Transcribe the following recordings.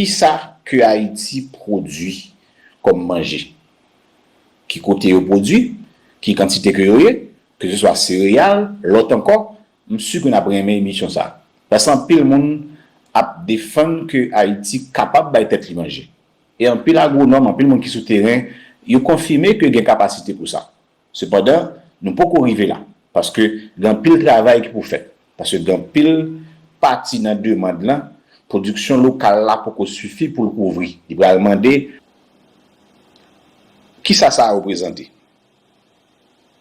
Kisa ke Ayiti pwodwi kòm manje? Ki kote yo pwodwi? Ki kantite ke yo ye? Ke se swa sereyal, lòt ankò, m si ke n ap renmen emisyon sa. Paske anpil moun ap defann ke Ayiti kapab bay tèt li manje. E anpil agwonòm, anpil moun ki sou teren, yo konfime ke gen kapasite pou sa. Sepandan, nou poko rive la, paske gen anpil travay ki pou fèt, paske gen anpil pati nan demand lan, pwodiksyon lokal la poko sifi pou l kouvri. Li pral mande, Kisa sa reprezante?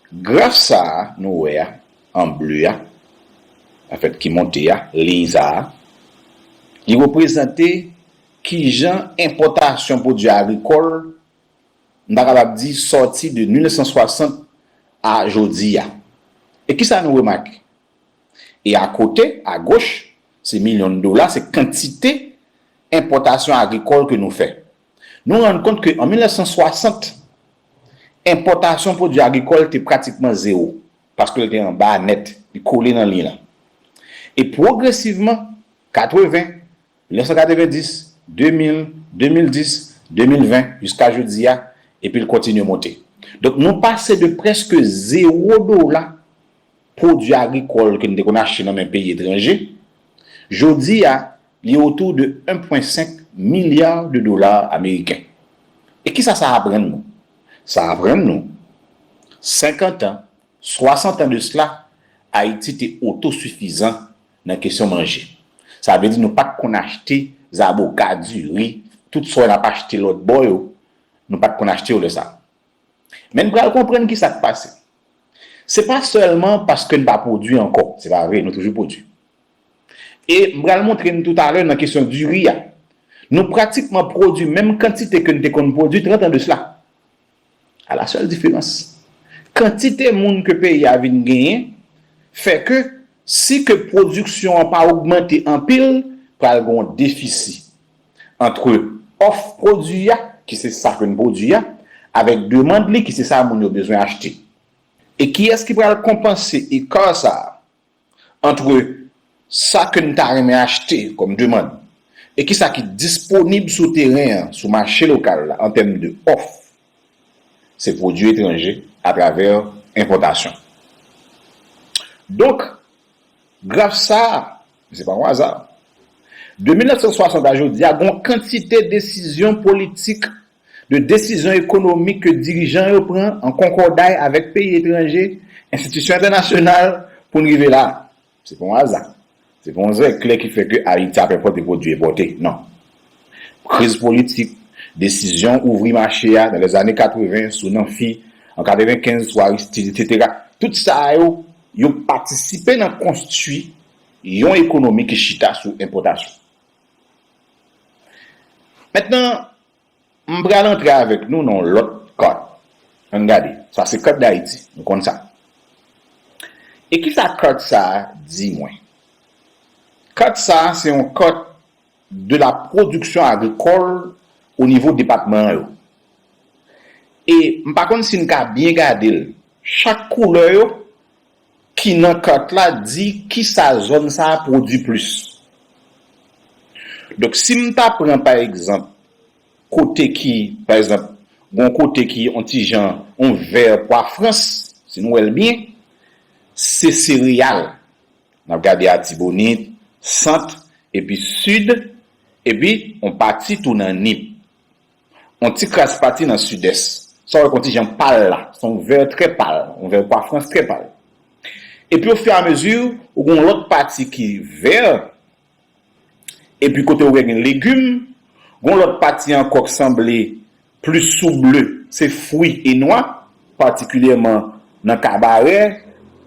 Graf sa a nou wè a, an ble a, anfèt ki monte a, liy sa a, li reprezante kijan enpòtasyon pwodui agrikòl, m ta kapab di sòti de 1960 a jodi a. E kisa nou remake? E akote, agoch, se milyon dola, se kantite enpòtasyon agrikòl ke nou fè. Nou rann kont ke an 1960, enpòtasyon pwodui agrikòl te pratikman zewo, paske l te an ba nèt, li kole nan liy lan. E pwogresivman, 80, 1990, 2000, 2010, 2020, jiska jodi a, epi l kontinye monte. Donk nou pase de prèske zewo dola pwodui agrikòl ke n te konn achte nan men peyi etranje, jodi a, li otou de 1 pwen 5 milya de dola ameriken. E kisa sa aprann nou? Sa aprann nou, senkantan, swasantan de sla, Ayiti te otosifizan nan kesyon manje. Sa vle di nou pa t konn achte zaboka, diri, tout sa yo n ap achte lòt bò yo, nou pa t konn achte yo lè sa a. Men n pral konprann ki sa k pase. Se pa sèlman paske n pa pwodui ankò, se pa vre, nou toujou pwodui. E m pral montre n toutalè nan kesyon diri a, nou pratikman pwodui menm kantite ke n te konn pwodui trant an de sla. A la sèl diferans, kantite moun ke peyi a vin genyen fè ke si ke pwodiksyon an pa ogmante anpil, pral gen yon defisi antre òf pwodui a, ki se sa ke n pwodui a, avèk demand li, ki se sa moun yo bezwen achte. E kiyès ki pral konpanse ekar sa a? Antre sa ke n ta renmen achte kòm demand e kisa ki disponib sou teren an, sou mache lokal la an tèm de òf, se pwodui etranje atravè enpòtasyon. Donk, graf sa a, e se pa yon aza, de 1960 a jodi a, gon kantite desizyon politik de desizyon ekonomik ke dirijan yo pran an konkòday avèk peyi etranje, enstitisyon entènasyonal, pou n rive la. Se pa yon aza. Se pa yon zè klè ki fè ke Ayiti ap enpòte pwodui enpòte. Non. Kriz politik, desizyon ouvri mache a nan lè zane 80 sou Nanfi, an 95 sou Aristide, etsetera, tout sa yo, yo patisipe nan konstui yon ekonomi ki chita sou enpòtasyon. Mètnan, m pral antre avèk nou nan yon lòt kòd. An n gade. Sa se kòd Dayiti. Nou konn sa. E ki sa kòd sa a di mwen? Kòd sa a se yon kòd de la pwodiksyon agrikòl o nivo depatman yo. E m pa konn si n ka byen gade l. Chak koulè yo ki nan kat la di kisa zòn sa a pwodui plis. Donk si m ta pran pa egzanp kote ki, pa egzanp, gon kote ki on ti jan on vè pwa frans, si nou wè l byen, se sereyal. N ap gade Atibonit, Sant, epi Sid, epi on pati tou nan Nip. On ti kras pati nan Sidès. Sa wè kon ti jan pal la. S on vè trè pal. On vè kwa frans trè pal. Epi o fè a mezi ou gen on lòt pati ki vè. Epi kote ou wè gen legim. Gon lòt pati ankò k sanble plis sou ble. Se fwi e nwa. patikilyèman nan kabarè,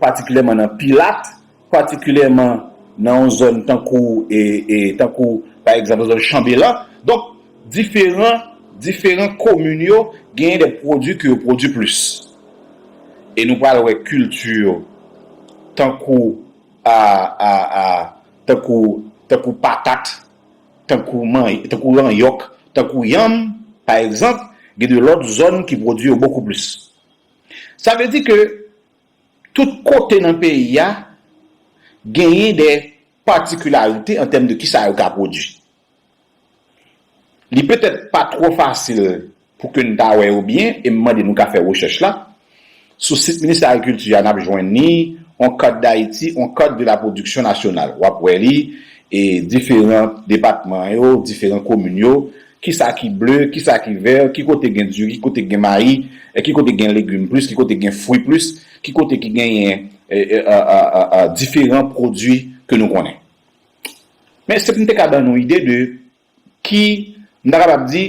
patikilyèman nan pilat, patikilyèman nan yon zòn tankou tankou pa egzanp zòn chanbelan donk diferan diferan komin yo genyen de pwodui ke yo pwodui plis e nou pral wè kilti tankou a a a tankou tankou patat. tankou ranyòk, tankou yanm, pa egzanp, gen de lòt zòn ki pwodui yo bokou plis. Sa vle di ke tout kote nan peyi a genyen de patikilarite an tèm de kisa yo ka pwodui. Li petèt pa twò fasil. Pou ke n ta wè yo byen, e m mande nou ka fè rechèch la, sou sit Ministè Agrikilti a n ap jwenn ni on carte d'Haïti, on carte de la production nationale. W ap wè li e diferan depatman yo, diferan komin yo, ki sa ki ble, ki sa ki vè, ki kote gen diri, ki kote gen mayi, ki kote gen legim plis, ki kote gen fwi plis, ki kote ki genyen diferan pwodui ke nou konnen. Men se pou m te ka ban nou ide de ki, m ta kapab di,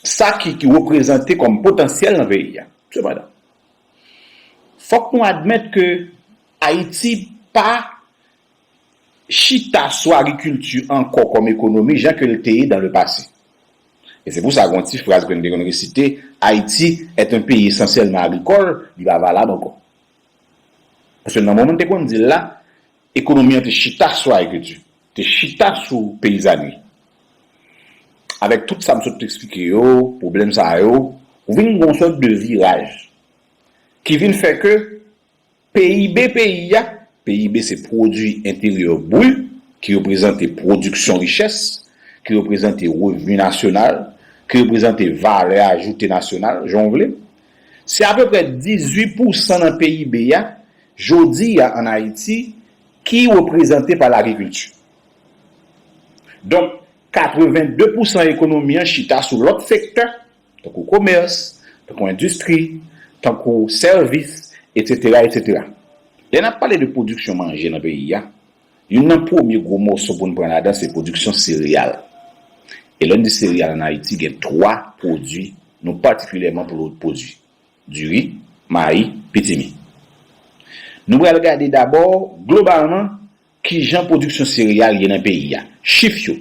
sa ki reprezante kòm potansyèl nan peyi a. Sepandan, fòk nou admèt ke Ayiti pa chita sou agrikilti ankò kòm ekonomi jan ke l te ye dan le pase. E se pou sa gon ti fraz ke n te konn resite, Haïti est un pays essentiellement agricole, li pa valab ankò. Paske nan moman n te konn di l la, Ekonomi an te chita sou agrikilti, te chita sou peyizanri. Avèk tout sa m sot eksplike yo, pwoblèm sa yo, ou vin gen yon sòt de viraj ki vin fè ke PIB peyi a, PIB se pwodui enteryè brut ki reprezante pwodiksyon richès, ki reprezante revni nasyonal, ki reprezante valè ajoute nasyonal, jan w vle, se apeprè 18 pousan nan PIB a Jodi a an Ayiti, ki reprezante pa lagrikilti. Donk, 82 pousan ekonomi an chita sou lòt sektè, tankou komès, tankou endistri, tankou sèvis, etsetera, etsetera. Lè n ap pale de pwodiksyon manje nan peyi a, youn nan premye gwo mòso pou n pran ladan se pwodiksyon sereyal. E lè n di sereyal an Ayiti gen twa pwodui nou patikilyèman pwodui. Diri, mayi, pitimi. Nou pral gade dabò, globalman, kijan pwodiksyon sereyal ye nan peyi a. Chif yo.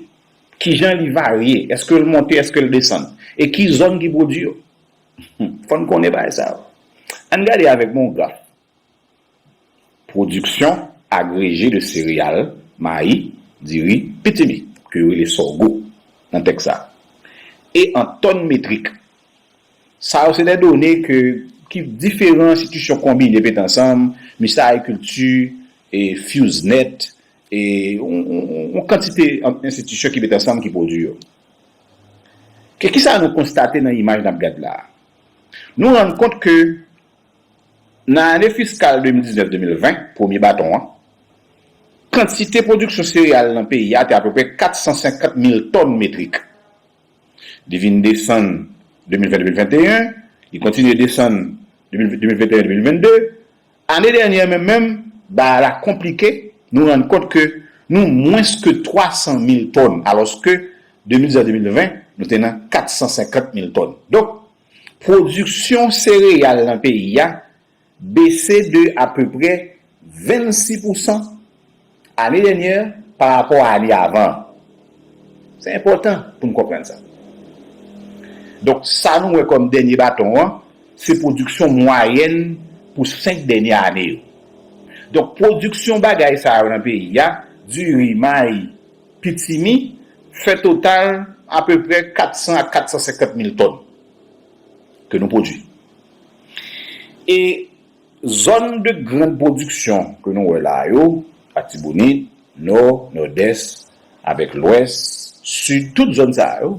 Kijan li varye, èske l monte, èske l desann. E ki zòn ki pwodui yo. Fò n konnen bagay sa yo. Ann gade avèk mwen yon graf. Pwodiksyon agreje de sereyal, mayi, diri, pitimi, ke yo rele sògo nan tèks sa, e an tòn metrik. Sa yo se de done ke ki diferan enstitisyon konbine mete ansanm, Ministè Agrikilti, e FUSNET, e yon kantite enstitisyon ki mete ansanm ki pwodui yo. Ke kisa nou konstate nan imaj n ap gad la a? Nou rann kont ke. Nan ane fiskal 2019-2020, premye baton an, kantite pwodiksyon sereyal nan peyi a te apeprè 450 mil tòn metrik. Li vin desann 2020-2021, li kontinye desann 2021-2022. Ane dènye menm menm, bagay la konplike, nou rann kont ke nou mwens ke 300 mil tòn, alòske 2019-2020, nou te nan 450 mil tòn. Donk, Pwodiksyon sereyal nan peyi a bese de apeprè 26 pousan ane dènyè parapò a ane avan an. Se enpòtan pou n konprann sa. Donk, sa nou wè kòm dènye baton an, se pwodiksyon mwayèn pou senk dènyè ane yo. Donk, pwodiksyon bagay sa yo nan peyi a, diri, mayi, Pitimi, fè total apeprè 400 a 450 mil tòn ke nou pwodui. E zòn de grand pwodiksyon ke nou wè la a yo, Atibonit, Nò, Nòdès, avèk Lwès, Sid, tout zòn sa a yo,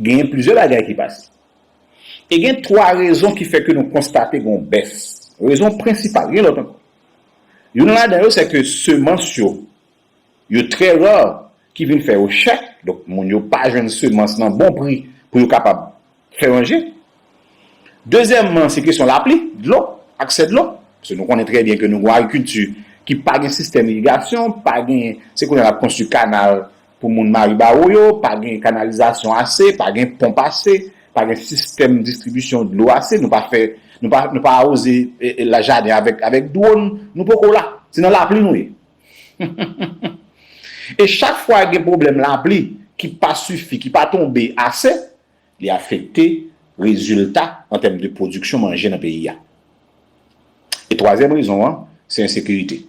genyen plizyè bagay ki pase. E gen 3 rezon ki fè ke nou konstate gen yon bès. Rezon prensipal, gen lòt ankò. Youn ladan yo, sè ke semans yo, Yo trè rare ki vin fè yo chè, donk moun yo pa jwenn semans nan bon pri pou yo kapab fè manje. Dezyèmman, se kesyon lapli, dlo, aksè dlo. Paske nou konnen trè byen ke nou gon agrikilti ki pa gen sistèm irigasyon, pa gen, se kounye a n ap konstwi kanal pou moun Maribawou yo, pa gen kanalizasyon ase, pa gen ponp ase, pa gen sistèm distribisyon dlo ase, nou pa fè, nou pa, nou pa awoze jaden avèk, avèk dwon, nou poko la. Se nan lapli nou ye. E chak fwa gen pwoblèm lapli ki pa sifi, ki pa tonbe ase, li afekte rezilta an tèm de pwodiksyon manje nan peyi a. E twazyèm rezon an, se ensekirite,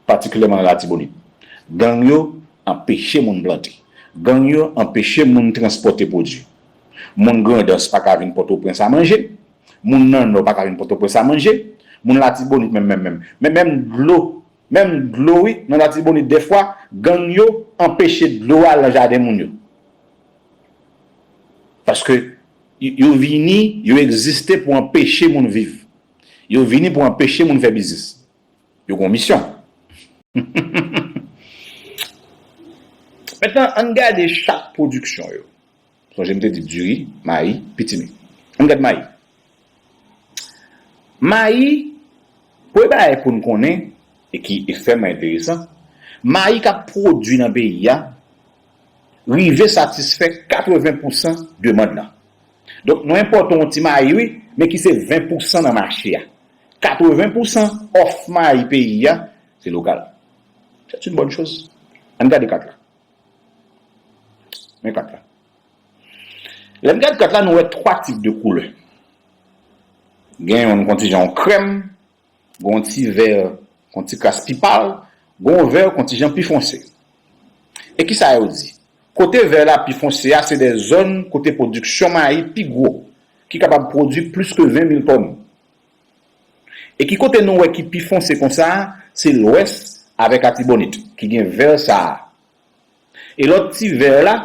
patikilyèman nan Latibonit. Gang yo anpeche moun plante. Gang yo anpeche moun transpòte pwodui. Moun Grandans pa ka vin Pòtoprens a manje. Moun nan nò pa ka vin pòtoprens a manje, moun latibonit menm menm menm men menm dlo menm dlo wi nan latibonit dèfwa gang yo anpeche dlo a al nan jaden moun yo paske yo vini yo egziste pou anpeche moun viv yo vini pou anpeche moun fè biznis yo gon misyon humm humm humm mèt nan ann gade chak pwodiksyon yo. Sonje m te di diri, mayi, pitimi. Ann gad mayi. Mayi, premye bagay pou n konnen e ki ekstrèmman enteresan, mayi k ap pwodui nan peyi a rive satisfè 80 pousan demand lan. Donk nou enpòte yon ti mayi wi, men ki se 20 pousan nan mache a. 80 pousan òf mayi peyi a se lokal. Sèt yn bòn choz. Ann gade kat la. Men kat la. Lè n gad kat la nou wè 3 tip de koulè. Gen yon kon ti jan krèm, gen yon ti vè kon ti kras pi pal, gen yon vè kon ti jan pi fonse. E ki sa yo di? Kote vè la pi fonse a se de zòn kote pwodiksyon mayi pi gwo, ki kapab pwodui plis ke 20 mil tòn. E ki kote nou wè ki pi fonse konsa, se lwès avèk Atibonit ki gen vè sa a. E lòt ti vè la,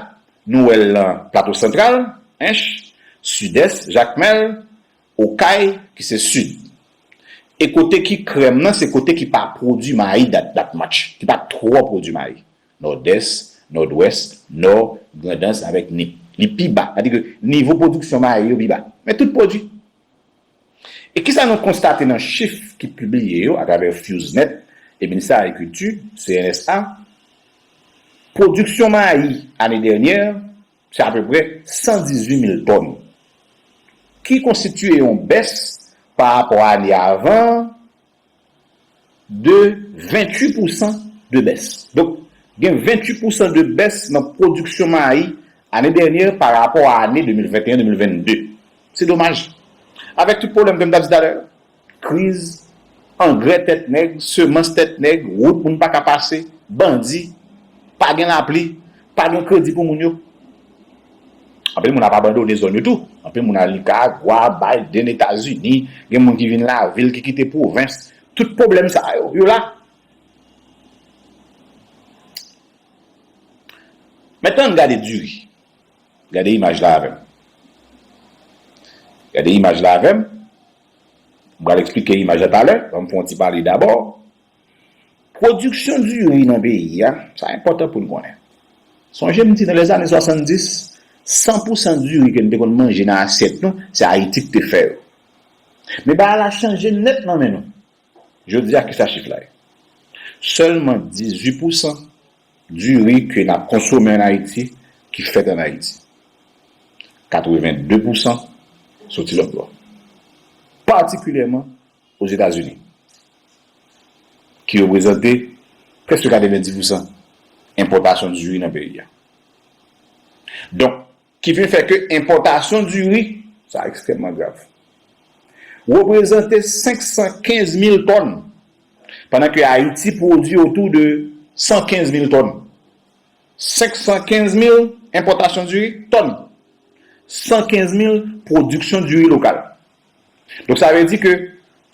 nou wè l nan Plato Santral, Ench, Sidès, Jakmèl, Okay ki se Sid. E kote ki krèm nan se kote ki pa pwodui mayi dat dat much, ki pa twò pwodui mayi, Nòdès, Nòdwès, Nò, Grandans avèk Nip. Li pi ba, sa di ke nivo pwodiksyon mayi yo pi ba. Men tout pwodui. E kisa nou konstate nan chif ki pibliye yo atravè FewsNet e Ministè Agrikilti, CNSA, pwodiksyon mayi ane dènyè se apeprè 118 mil tòn, ki konstitiye yon bès parapò ane avan an, de 28 pousan de bès. Donk, gen 28 pousan de bès nan pwodiksyon mayi ane dènyè pa rapò a ane 2021, 2022. Se domaj. Avèk tout pwoblèm ke m ta di talè yo, kriz, angrè tèt nèg, semans tèt nèg, wout moun pa ka pase, bandi, pa gen lapli, pa gen kredi pou moun yo. Anpil moun ap abandone zòn yo tou. Anpil moun al Nikaragwa, Biden, Etazini. Gen moun ki vin lavil, ki kite pwovens. Tout pwoblèm sa yo, yo la. Mèt ann gade diri. Gade imaj la avè m. Gade imaj la avè m. M pral eksplike imaj la talè. Ban m fè yon ti pale dabò. Pwodiksyon diri nan peyi a, sa enpòtan pou n konnen. Sonje m di nan lèzane 70, 100 pousan diri ke n te konn manje nan asyèt nou, se Ayiti ki te fè yo. Men bagay la chanje nèt nan men nou. Jodi a, kisa chif la ye? Sèlman 18 pousan diri ke n ap konsome an Ayiti ki fèt an Ayiti. 82 pousan soti lòt bò. Patikilyèman Ozetazini, ki reprezante prèske 90 pousan enpòtasyon diri nan peyi a. Donk, ki vin fè ke enpòtasyon diri, sa ekstrèmman grav, reprezante 515 mil tòn, pandan ke Ayiti pwodui otou de 115 mil tòn. 515 mil enpòtasyon diri, tòn, 115 mil pwodiksyon diri lokal. Donk sa vle di ke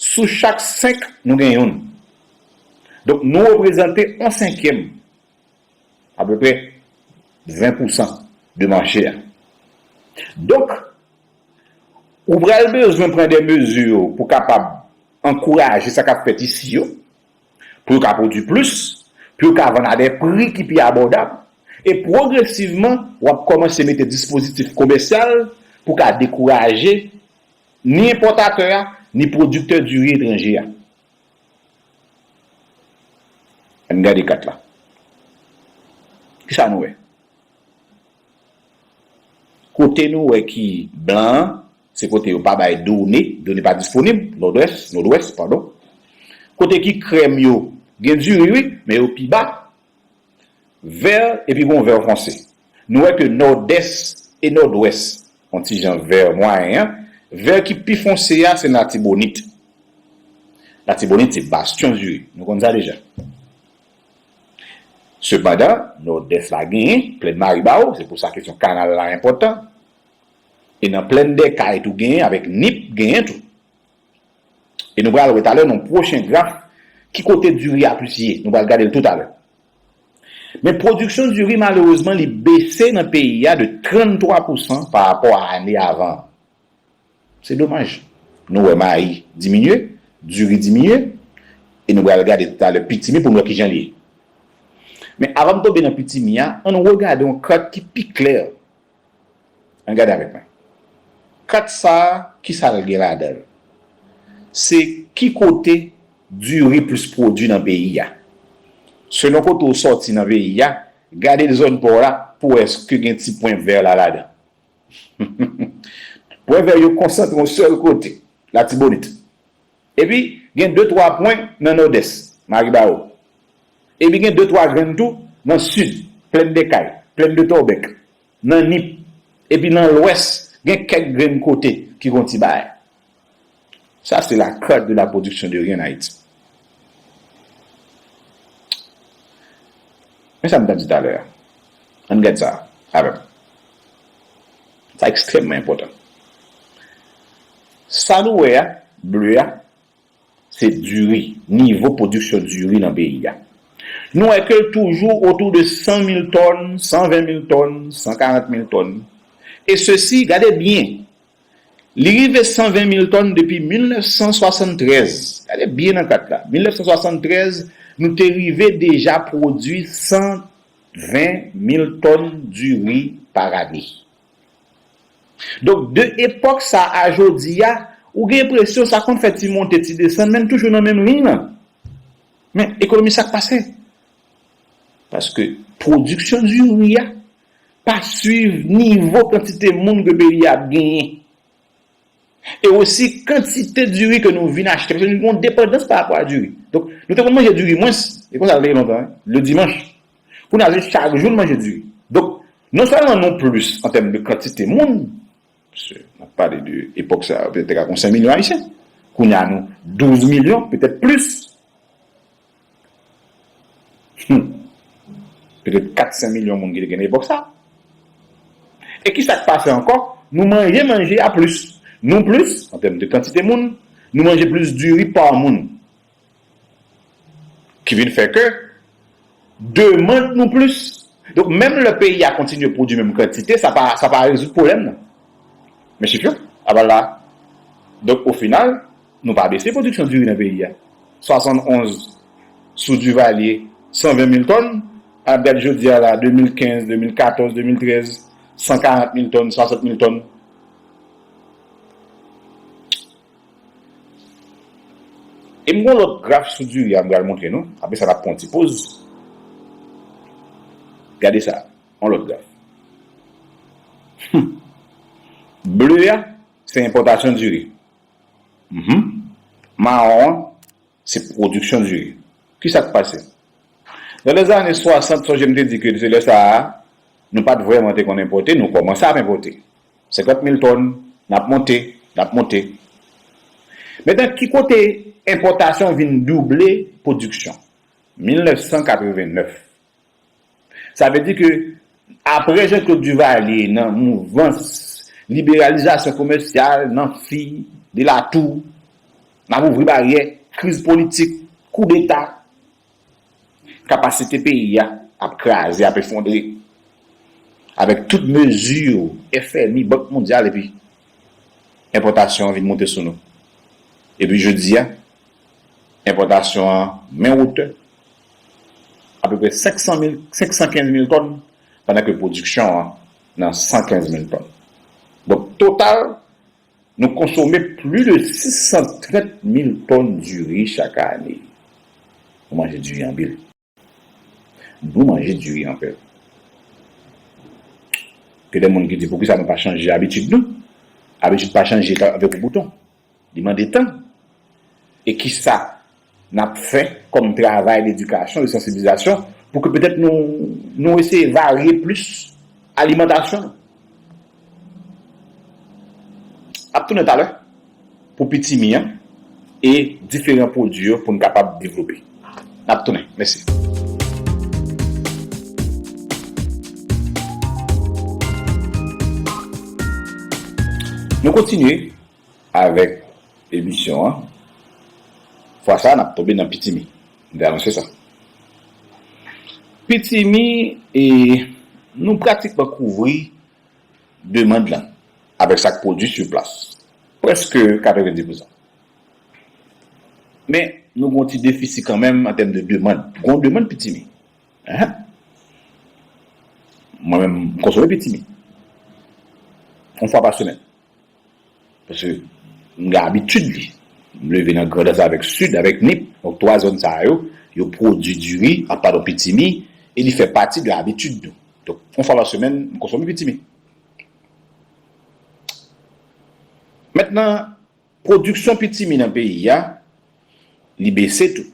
sou chak 5 nou gen youn. Donk nou reprezante on senkyèm, apeprè 20 pou san de mache a. Donk ou pral bezwen pran de mezi pou kapab ankouraje sa k ap fèt isi yo, pou yo ka pwodui plis, pou yo ka vann a dè pri ki pi abòdab, e pwogresivman w ap kòmanse mete dispozitif komèsyal pou ka dekouraje ni enpòtatè a ni pwodiktè diri etranje a. Ann gade kat la. Ki sa nou wè? Kote nou wè ki blan an Se kote yo pa bay done, done pa disponib, Nòdwès, Nodwès, padon. Kote ki krèm yo, gen diri wi, men yo pi ba. Vè epi gon vè fonse. Nou wè ke Nòdès e Nòdwès on ti jan vè mwayen an, vè ki pi fonse a se nan Latibonit. Latibonit se bastyon diri, nou konn sa deja. Sepandan, Nòdès la genyen, Plèn Maribawou, se pou sa kesyon kanal la enpòtan. E nan plèn dè kay tou genyen avèk nip genyen tou. E nou pral wè talè nan yon pwochen graf ki kote diri a plis ye. Nou pral gade l tou talè. Men pwodiksyon diri malerezman li bese nan peyi a de 33 pousan pa rapò a ane avan an. Se domaj. Nou wè mayi diminye, diri diminye e nou pral gade tou talè pitimi pou n wè kijan li ye. Men avan m tonbe nan pitimi a, an nou regade yon kat ki pi klè An gade avèk mwen. Kat sa a ki sa l gen ladan l? Se ki kote diri plis pwodui nan peyi a. Selon kote ou sòti nan peyi a, gade zòn pa w la pou wè èske gen ti pwen vè la ladan. Pwen vè yo konsantre yon sèl kote, Latibonit. Epi, gen de twa pwen nan nòdès, Maribawo. Epi gen de twa grenn tou nan sid, Plèn de Kay, Plèn de Tòbèk, nan Nip. Epi nan lwès, gen kèk grenn kote ki gon ti baay. Sa se la carte de la production de riz en Haïti. Men sa m ta di talè a. Ann gad sa avè m. Sa ekstrèmman enpòtan. Sa nou wè a, ble a, se diri, nivo pwodiksyon diri nan peyi a. Nou wè ke l toujou otou de 100 mil tòn, 120 mil tòn, 140 mil tòn. E sesi, gade byen, li rive 120 mil tòn depi 1973, gade byen nan kat la, 1973, nou te rive deja pwodui 120 mil tòn diri par ane. Donk de epòk sa a jodi a, ou gen enpresyon sa konn fè ti monte ti desann men n toujou nan menm liy lan. Men, ekonomi sa k pase? Paske pwodiksyon diri a pa swiv nivo kantite moun ke peyi a ap genyen. E osi kantite diri ke nou vin achte. Paske nou gen yon depandans parapò a diri. Donk, nou te konn manje diri mwens. E konsa l te ye lontan wi. Ledimanch. Kounye a se chak jou n manje diri. Donk, non sèlman nou plis an tèm de kantite moun, paske n ap pale de epòk sa yo te ka gen yon 5 milyon Ayisyen, kounye a nou 12 milyon, petèt plis, hum, petèt 4, 5 milyon moun ki te gen nan epòk sa. E ki sa k pase ankò? Nou manje manje a plis. Nou plis, an tèm de kantite moun, nou manje plis diri pa moun. Ki vin fè ke demand nou plis. Donk menm lè peyi a kontinye pwodui menm kantite, sa pa sa pa rezoud pwoblèm nan. Men chif yo ap al la. Donk o final, nou pa bese pwodiksyon diri nan peyi a. 71 sou Duvalier, 120 mil tòn, an ap gade jodi a la, 2015, 2014, 2013, 140 mil tòn, 60 mil tòn. E m gon lòt graf sou diri a m pral montre nou. Apre sa n ap pran yon ti poz. Gade sa, yon lòt graf. Humm. Ble a, se enpòtasyon diri. Humm. Mawon an, Se production du riz. Kisa k pase? Nan lèzane 60, sonje m te di ke se lè sa a, nou pa t vrèman te konn enpòte, nou kòmanse ap enpòte. 50 mil tòn, n ap monte, n ap monte. Mentan ki kote enpòtasyon vin double production? 1989. Sa vle di ke apre Jean Claude Duvalier nan mouvans liberalizasyon komèsyal nan fi, de la tou, n ap ouvri baryè, kriz politik, koudeta, kapasite peyi a ap kraze, ap efondre. Avèk tout mezi FMI, Bank Mondyal epi enpòtasyon an vin moute sou nou. Epi jodi a. Enpòtasyon an men wotè apeprè 500 mil, 515 mil tòn pandan ke pwodiksyon an nan 115 mil tòn. Donk total nou konsome pli de 630 mil tòn diri chak ane. Nou manje diri anpil. Nou manje diri anpè. Gen de moun ki di poukisa nou pa chanje abitid nou? Abitid pa chanje avèk yon bouton. Li mande tan. E kisa n ap fè kòm travay ledikasyon, de sansibilizasyon pou ke petèt nou eseye varye plis alimantasyon nou? Ap tounen talè pou pitimi an e diferan pwodwi yo pou n kapab devlope. N ap tounen. Mèsi. Nou kontinye Avèk emisyon an fwa sa nap tonbe nan pitimi m te anonse sa pitimi e nou pratikman kouvri demand lan avèk sak pwodwi sur plas prèske 90 pousan men nou gon ti defisi kanmenm antèm de demand gon demand pitimi ehe mwen menm m konsome pitimi yon fwa pa semèn. Paske m gen abitid li. M leve nan Grandans avèk Sid, avèk Nip. Donk 3 zòn sa yo, yo pwodui diri, a padon pitimi, e li fè pati de abitid nou. Donk yon fwa pa semèn, m konsome pitimi. Mentnan, pwodiksyon pitimi nan peyi a, li bese tou.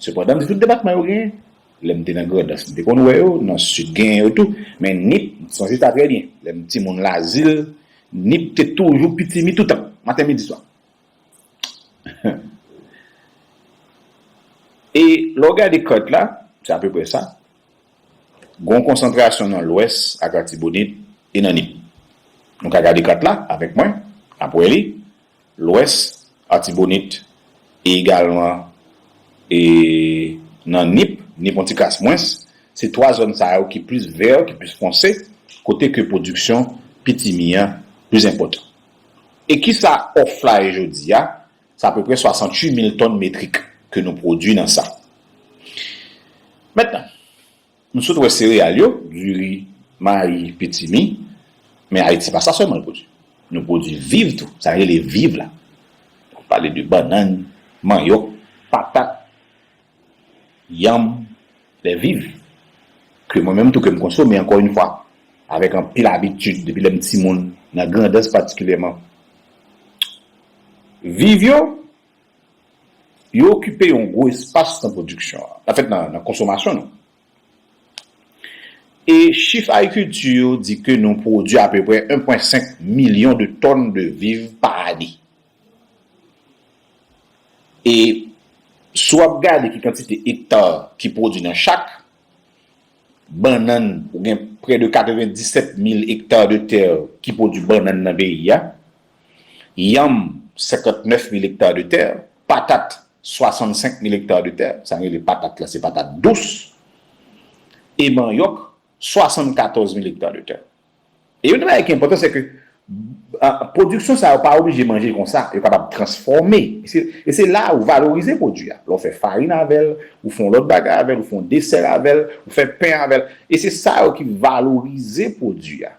Sepandan, m di tout depatman yo genyen. Lè m te nan Grandans, m te konn wè yo, nan Sid genyen yo tou. Men Nip, m sonje sa trè byen. Lè m timoun Lazil, Nip te toujou pitimi toutan, maten, midi, swa. E lè w gade kart la, se apeprè sa. Gen yon konsantrasyon nan Lwès ak Latibonit e nan Nip. Nou ka gade kart la avèk mwen, n ap wè li. Lwès, Atibonit, e egalman e nan Nip, Nip yon ti kras mwens, se 3 zòn sa yo ki plis vè, ki plis fonse, kote ke pwodiksyon pitimi an plis enpòtan. E kisa òf la ye jodi a? Se apeprè 68 mil tòn metrik ke nou pwodui nan sa. Mentnan, Nou sot wè sereyal yo, diri, mayi, pitimi, men Ayiti pa sa sèlman l pwodui. Nou pwodui viv tou, sa rele viv la. Nou pale de bannann, manyòk, patat, yanm, lè viv, ke mwen menm tou ke m konsome ankò yn fwa, avèk anpil abitid depi lè m timoun, nan Grandans patikilyèman. Viv yo. Yo okipe yon gwo espas nan pwodiksyon an, anfèt nan konsomasyon nou. E chif Agriculture yo di ke nou pwodwi apeprè 1 pwen 5 milyon de tòn de viv pa ane. E si w ap gade ki kantite ekta ki pwodwi nan chak, bannann ou gen prè de 97 mil ekta de tè ki pwodwi bannann nan peyi a. yanm, 59 mil ekta de tè, patat, 65 mil ekta de tè, sa nou rele patat la se patat dous, e manyòk, 74 mil ekta de tè. E youn nan bagay ki enpòtan se ke pwodiksyon sa yo pa oblije manje konsa, yo kapab transfòme, e se la ou valorize pwodui a, lè w fè farin avè l, ou fè yon lòt bagay avè l, ou fè yon desè avè l, ou fè pen avè l, e se sa yo ki valorize pwodui a.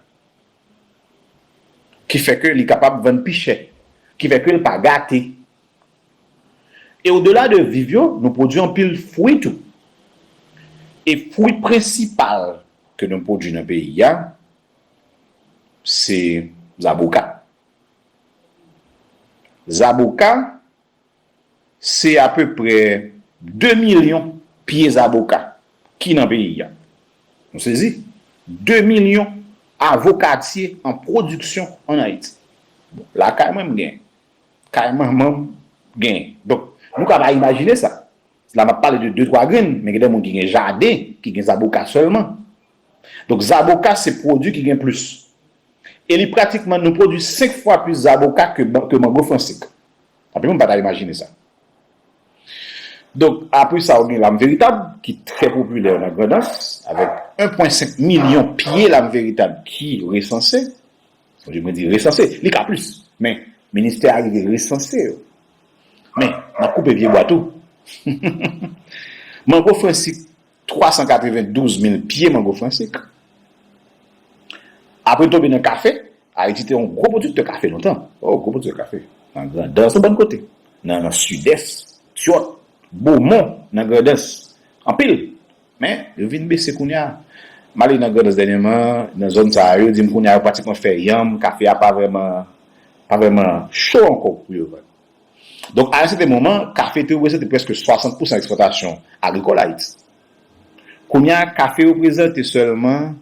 ki fè ke li kapab vann pi chè, ki fè ke l pa gate. E odela de viv yo, nou pwodui anpil fwi tou. E fwi prensipal ke nou pwodui nan peyi a, se zaboka. Zaboka, se apeprè 2 milyon pye zaboka ki nan peyi a. Nou sezi! 2 milyon avokatye an pwodiksyon ann Ayiti. Bon, lakay mwen m gen. Kay manman m gen. Donk, nou ka pa imajine sa. La m ap pale de detwa grenn, men gen de moun ki gen jaden ki gen zaboka sèlman. Donk, zaboka se pwodui ki gen plis. E li pratikman, nou pwodui 5 fwa plis zaboka ke mango fransik. Anpil moun pa ta imajine sa. Donk, apre sa ou gen Lam Veritab ki trè popilè nan Grandans avèk 1 pwen 5 milyon pye Lam Veritab ki resanse. Oje mwen di resanse, li ka plis, men ministè a rive resanse yo. Men, n ap koupe pye bwa tou. Mango Fransik. 392 mil pye mango fransik. Apre tonbe nan kafe, Ayiti te yon gwo pwodiktè kafe lontan. O, gwo pwodiktè kafe. Nan Grandans yon bann kote. Nan Sidès, Tyòt, Bomon, nan Grandans. Anpil. Men, yo vin bese kounye a. M ale nan Grandans dènyèman, nan zòn sa a, yo di m kounye a yo pratikman fè yanm, kafe a pa vrèman, pa vrèman cho ankò pou yo vann. Donk a yon sèten moman, kafe te reprezante prèske 60 pousan ekspòtasyon agrikòl Ayiti. Kounye a, kafe reprezante sèlman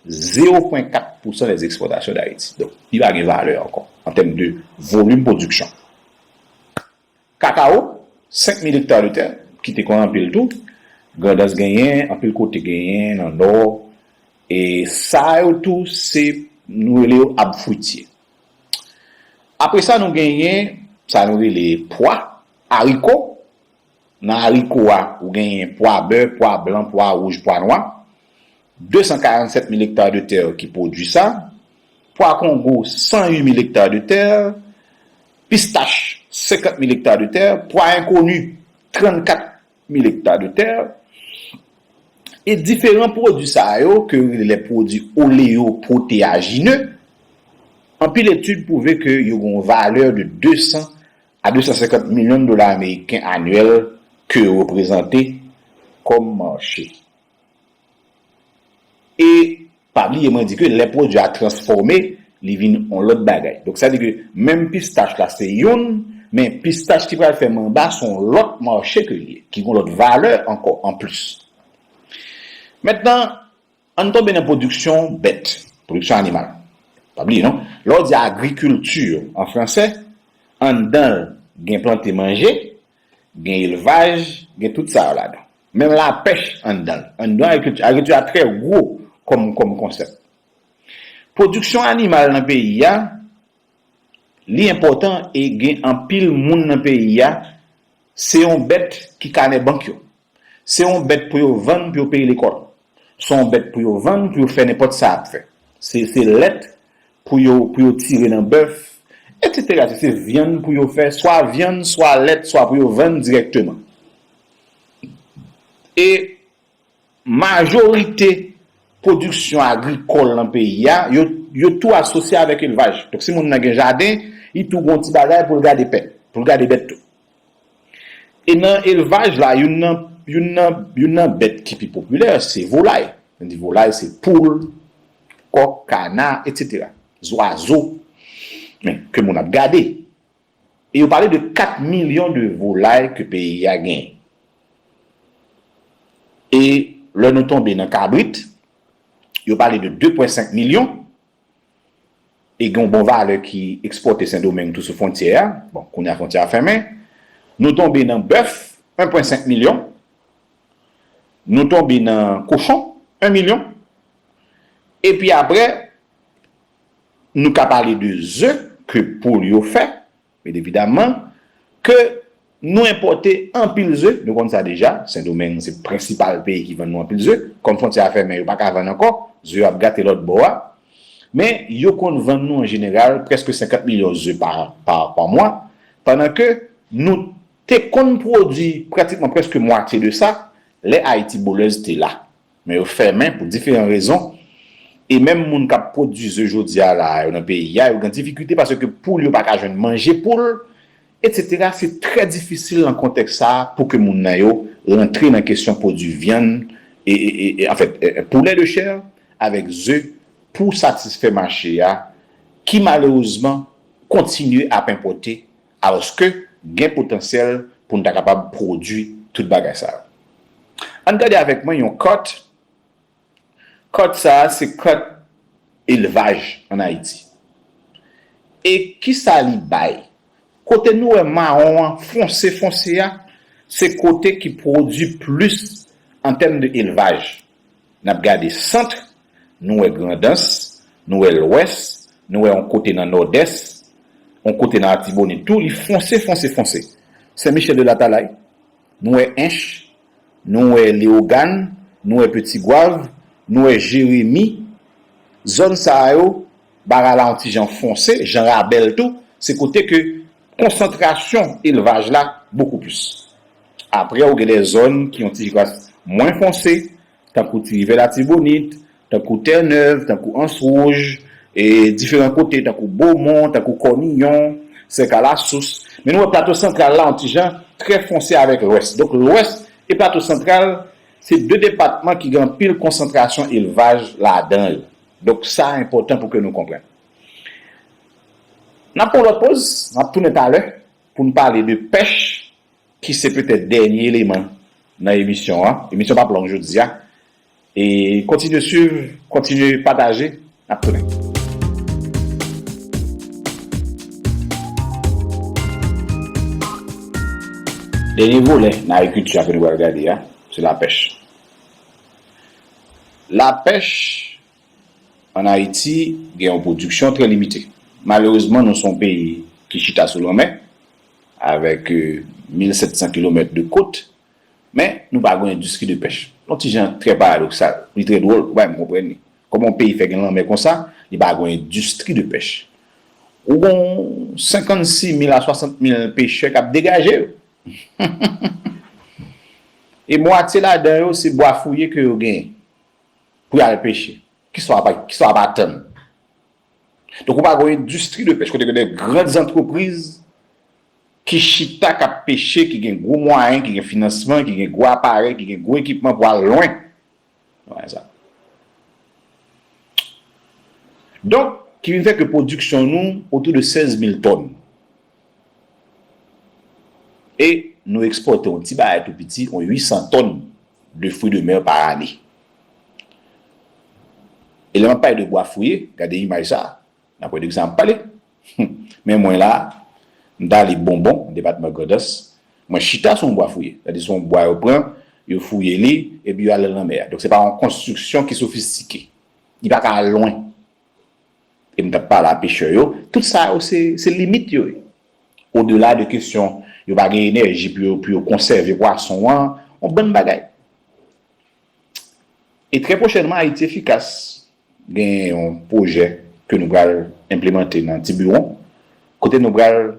zewo pwen kat pousan des exportations d'Haïti. Donk, li pa gen valè ankò an tèm de volim pwodiksyon. Kakawo, senk mil ekta de tè, ki te konn anpil tou, Grandans genyen, anpil kote genyen, nan Nò, e sa yo tou se, nou rele yo ab fwitye. Apre sa nou genyen sa nou rele pwa, ariko. Nan ariko a, ou genyen pwa bè, pwa blan, pwa wouj, pwa nwa. 247 mil ektar de tè ki pwodui sa. Pwa kongo, 108 mil ektar de tè. Pistach, 50 mil ektar de tè. Pwa enkoni, 34 mil. mil ekta de tè, e diferan pwodui sa yo ke yo rele lè pwodui oleo pwoteajine, anpil etid pwouve ke yo gen yon valè de 200 a 250 milyon dola ameriken anyèl ke yo reprezante kòm mache. E pa bliye mwen di ke lè pwodui a transfòme, li vin yon lòt bagay. Donk sa di ke menm pistach la se youn, men pistach ki pral fè manba se yon lòt mache ke li ye, ki gen yon lòt valè ankò anplis. Mentnan, ann tonbe nan pwodiksyon bèt, pwodiksyon animal. Pa bliye non, lè w di agriculture an fransè, anndan l gen plante manje, gen elvaj, gen tout sa yo ladan. Menm lapèch anndan l. Anndan agrikilti. Agrikilti a trè gwo kòm konsèp. Pwodiksyon animal nan peyi a, li enpòtan e gen anpil moun nan peyi a, se yon bèt ki kanè bank yo. Se yon bèt pou yo vann pou yo peye lekòl. Se yon bèt pou yo vann pou yo fè nenpòt sa y ap fè. Se lèt pou yo tire nan bèf, etsetera. Se vyann pou yo fè swa vyann, swa lèt, swa pou yo vann dirèkteman. E majorite pwodiksyon agrikòl nan peyi a, yo tou asosye avèk elvaj. Donk si moun nan gen jaden, li tou gen yon ti bagay pou l gade pèp, pou l gade bèt tou. E nan elvaj la, youn nan bèt ki pi popilè, se volay. Mwen di volay, se poul, kòk, kana, etc. Zwazo, men, ke moun ap gade. E yo pale de 4 milyon de volay ke peyi a gen. E lè nou tonbe nan kabrit, yo pale de 2 pwen 5 milyon, e gen yon bon valè ki ekspòte Sendomeng tou sou fwontyè a, bon, kounye a fwontyè a fèmen. Nou tonbe nan bèf, 1 pwen 5 milyon. Nou tonbe nan kochon, 1 milyon. E pi apre, Nou ka pale de ze ke poul yo fè, byen evidaman, ke nou enpòte anpil ze, nou konn sa deja, Sendomeng se prensipal peyi ki vann nou anpil ze, kòm fwontyè a fèmen yo pa ka vann ankò, ze yo ap gate lòtbò a, men yo konn vann nou an jeneral prèske 50 milyon ze pa mwa, pandan ke nou te konn pwodui pratikman prèske mwatye de sa lè Ayiti Bolèz te la. Men yo fèmen pou diferan rezon e menm moun k ap pwodui ze jodi a la a yo nan peyi a yo gen difikilte paske poul yo pa ka jwenn manje pou l etsetera se trè difisil nan kontèks sa a pou ke moun nan yo rantre nan kesyon pwodui vyann e e anfèt poulet de chair avèk ze pou satisfè mache a ki malerezman kontinye ap enpòte Alòske, gen potansyèl pou n ta kapab pwodui tout bagay sa yo. Ann gade avèk mwen yon kart, kart sa a se kart elvaj ann Ayiti. E ki sa li bay? Kote nou wè mawon an fonse fonse a, se kote ki pwodui plis an tèm de elvaj. N ap gade sant Nou wè Grandans, nou wè Lwès, nou wè on kote nan Nòdès, on kote nan Atibonit tou, li fonse, fonse, fonse. Sen Michèl de Latalay, nou wè Ench, nou wè Lewogàn, nou wè Peti Gwav, nou wè Jeremi, zòn sa a yo, bagay la on ti jan fonse, Jan Rabèl tou, se kote ke konsantrasyon elvaj la bokou plis. Apre ou gen lè zòn ki on ti jas mwen fonse, tankou ti rivyè latibonit, tankou tè nèv, tankou ans wouj, e diferan kote tankou bomon, tankou kòniyon, sèk a la sous, men nou wè plato santral la yon ti jan trè fonse avèk lwès, donk lwès e plato santral se 2 depatman ki gen anpil konsantrasyon elvaj ladan yo, donk sa enpòtan pou ke nou konprann. N ap pran yon lòt poz, m ap tounen talè pou n pale de pèch. ki se petèt dènye eleman nan emisyon an, emisyon pap long jodia e kontinye swiv, kontinye pataje, nap tounen. Dènye volè nan agrikilti a ke nou pral gade a se lapèch. Lapèch an Ayiti gen yon pwodiksyon trè limite. Malerezman nou son peyi ki chita sou lanmè, Avèk 1700 kilomèt de kot, men nou pa gwen endistri de pèch. Yon ti jan trè paradoksal. Li trè dwòl, ou pa menm konprann li. Kòman yon peyi fè gen lanmè konsa, li pa gwen endistri de pèch? Ou gwen 56 mil a 60 mil pechè k ap degaje yo. E mwatye ladan yo se bwa fouye ke yo genyen pou y al peche. Kisa w ap atann Donk ou pa gon endistri de pèch kote gen de gran zantrepriz ki chita k ap peche, ki gen gwo mwayen, ki gen finansman, ki gen gwo aparèy, ki gen gwo ekipman pou al lwen. Donk ki vin fè ke pwodiksyon nou otou de 16 mil tòn. E nou ekspòte yon ti bagay tou piti, yon 800 tòn de fwi de mer pa ane. E lè m ap pale de bwa fouye, gade imaj sa a, n ap wè de kisa m ap pale. Men mwen la a, m t ale Bonbon, depatman Grandans, mwen chita sou yon bwa fouye. Sa vle di se yon bwa yo pran, yo fouye li, epi yo ale l nan lanmè a. Donk se pa yon konstriksyon ki sofistike. Li pa ka al lwen. e m t ap pale a pechè yo, tout sa yo se limit yo. Odela de kesyon yo pa gen enèji pou yo konsève pwason an, yon bann bagay. E trè pwochènman Ayiti Efikas gen yon pwojè ke nou pral enplemante nan Tiburon, kote nou pral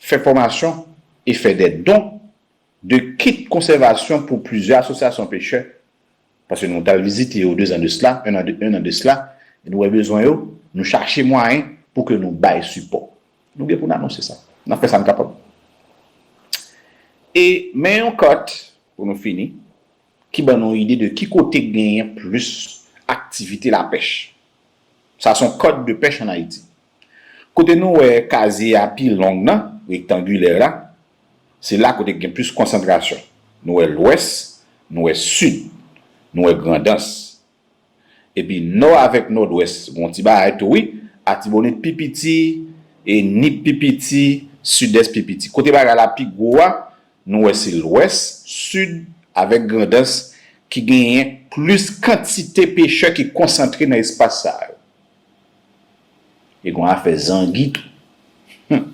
fè fòmasyon e fè dè don de kit konsèvasyon pou plizyè asosyasyon pechè Paske nou tal vizite yo 2 zan de sla, 1 an de sla, e nou wè bezwen yo, nou chache mwayen pou ke nou bay sipò. Nou gen pou n anonse sa. N ap fè sa n kapab. E men yon kat, pou nou fini, ki ban nou ide de ki kote genyen plis aktivite lapèch. Sa son code de pêche en Haïti. Kote nou wè kazye a pi long nan, rektangilè la, se la kote k gen plis konsantrasyon. Nou wè lwès, nou wè sid, nou wè Grandans. Epi nò avèk nòdwès gon ti bagay tou wi, Atibonit pi piti, Nip pi piti, Sidès pi piti. Kote bagay la pi gwo a, nou wè se lwès, sid avèk Grandans ki genyen plis kantite pechè ki konsantre nan espas sa yo. E gon afè zangi tou. Hum!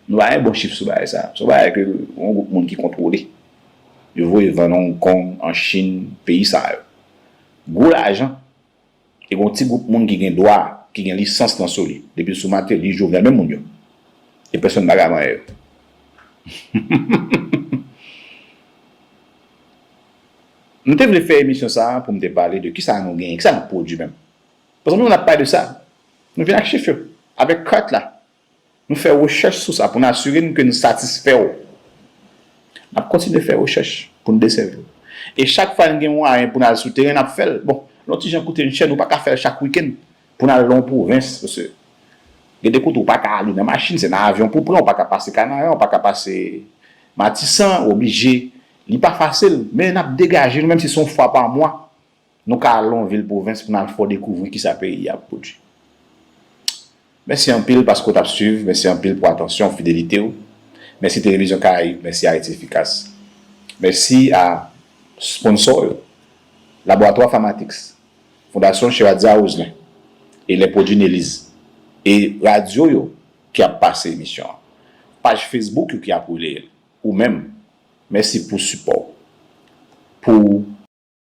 Nou pa gen bon chif sou bagay sa. Se yon bagay ke yon gwoup moun ki kontwole. Yo voye vann Hong Kong, an Chin, peyi sa yo. Gwo lajan. E gon ti gwoup moun ki gen dwa, ki gen lisans lan sou li. Depi l sou Mateli, Jovenel, menm moun yo. E pèsonn pa ka vanyen yo. M te vle fè emisyon sa pou m te pale de kisa nou genyen, kisa n ap pwodui menm. Paske nou menm nap pale de sa. Nou vin ak chif yo. Avèk kat la. Nou fè rechèch sou sa pou n asire n ke n satisfè w. Nap kontinye fè rechèch pou n desèvi w. E chak fwa n gen mwayen pou n al sou teren nap fè l. Bon, l on ti jan koute n chè, nou pa ka fè l chak wikenn pou n al lan yon pwovens. Paske gen de kote ou pa ka ale nan machin, se nan avyon pou w pran, ou pa ka pase Kanaran, ou pa ka pase Matisan, ou oblije. Li pa fasil, men nap degaje nou menm si se yon fwa pa mwa Nou ka al lon vil pwovens pou n al fè w dekouvri kisa peyi a ap pwodui. Mèsi anpil paske w t ap swiv, mèsi anpil pou atansyon w, fidelite w. Mèsi Televizyon Karayib, mèsi Ayiti Efikas. Mèsi a sponsò yo, Laboratwa Pharmatix, Fondasyon Cheradza Roselin e lè pwodui Neliz e radyo yo ki ap pase emisyon an, paj Facebook yo ki ap releye l, ou menm, mèsi pou sipò w, pou.